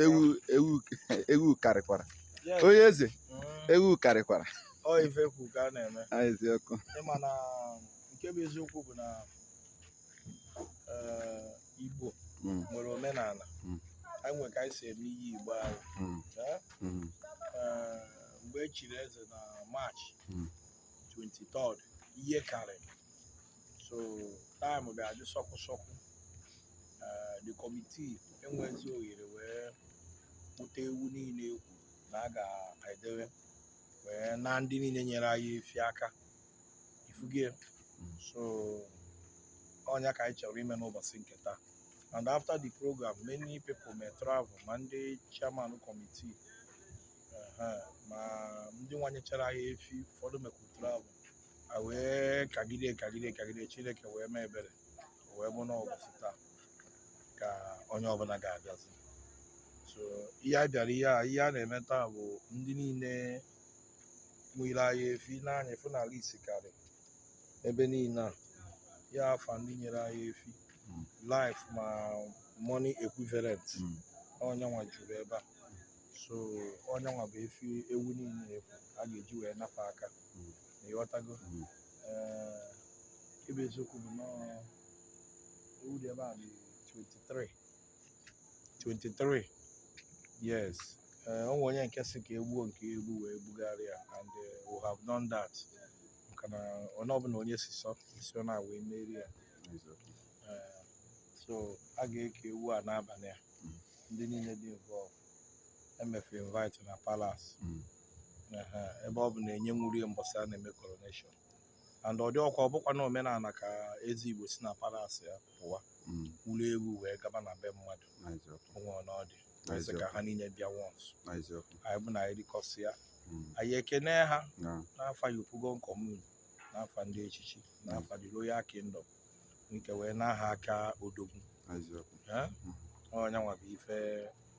ewu ewu ewu karịkwara onye eze ewu karịkwara ọ ife e kwu ka a na-eme Ah, eziokwu ị ma na nke bụ eziokwu bụ na eh, igbo Mm, nwere omenala Mm. anyị nwere ka anyị si eme ihe igbo anyị mm, eh? mm, Eh, mgbe e chiri eze na March Mm. 23 ihe karịrị so time bịa dị sọkwụ sọkwụ eh, the committee enwezi ohere wee kpụta ewu niile e kwu na a ga-edewe wee naa ndị niile nyere anyị efi aka ị fugo ya so ọ nya ka anyị chọrọ ime n'ụbọchị nke taa and after the program many people mee travel ma ndị chairman committee ehe, ma ndị nwa nyechara anyị efi ụfọdụ mekwu travel a wee kagide kagide kagide chineke wee mee ebere wee bụ na ọ bụzi taa ka onye ọbụla ga-abịazi so ihe a bịara ihe a ihe a na-eme taa bụ ndị niile nyere anyị efi n'anya efu n'ala isi karị ebe niile a ya afa ndị nyere anyị efi live ma money equivalent Mm. ọ nyanwa juru ebe a so ọ nyanwa bụ efi ewu niile afụ a ga-eji wee naa fa aka Mm. ị ghọtago Mm. ebe eziokwu bụ na ewu dị ebe a dị 23 23 yes ee o nwe onye nke sị ka e gbuo nke egbu wee bugharị ya and eh, we have done that maka na onye ọbụla onye si sọ isi ọ na-awa emeri ya Eh, so a ga-eke ewu a n'abalị a ndị niile dị involved e mee fa invite na palace ebe ọ bụ na e nyenwurọ ya mbọsị a na-eme coronation and ọ dịrọkwa ọ bụkwa na omenala ka eze igbo si na palace ya pụwa mm. buru ewu wee gaba na be mmadụ onwe na ọ dị sị ka ha niile bịa once anyị bụ na anyị rikọsịa mm. anyị ekene ha n'afa Yopougon Commune n'afa ndị echichi n'afa the royal kingdom nke wee naa ha aka odogwu ọ nyanwa bụ ife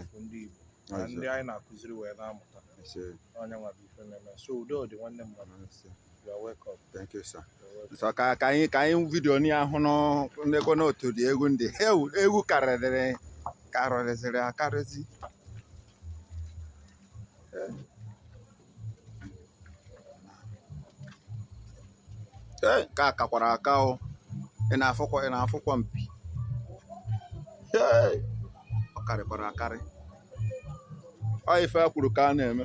afọ ndị Igbo na ndị anyị na-akụziri wee na-amụta ọ nyanwa bụ ife na-eme so udo dị nwanne m mmadụ you are welcome thank you sir so ka ka anyị ka anyị video ni ahụ n'ekwe n'otu dị egwu ndị ewu karịrị karịrịzịrị akarịzi ee nke a kakwara aka o ị na-afụkwa ị na-afụkwa mpi ee ọ karịkwara akarị ọ ife e kwuru ka a na-eme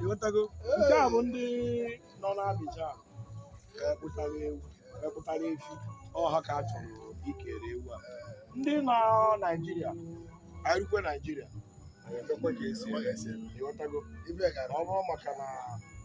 ịghọtago nke a bụ ndị nọ n'Abidjan epụtara ewu epụtara efi ọha ka a chọrọ ikere ewu a ndị nọ Naịjirịa erukwe Naịjirịa ekekwe ka esi eme. ịghọtago ọ bụrụ maka na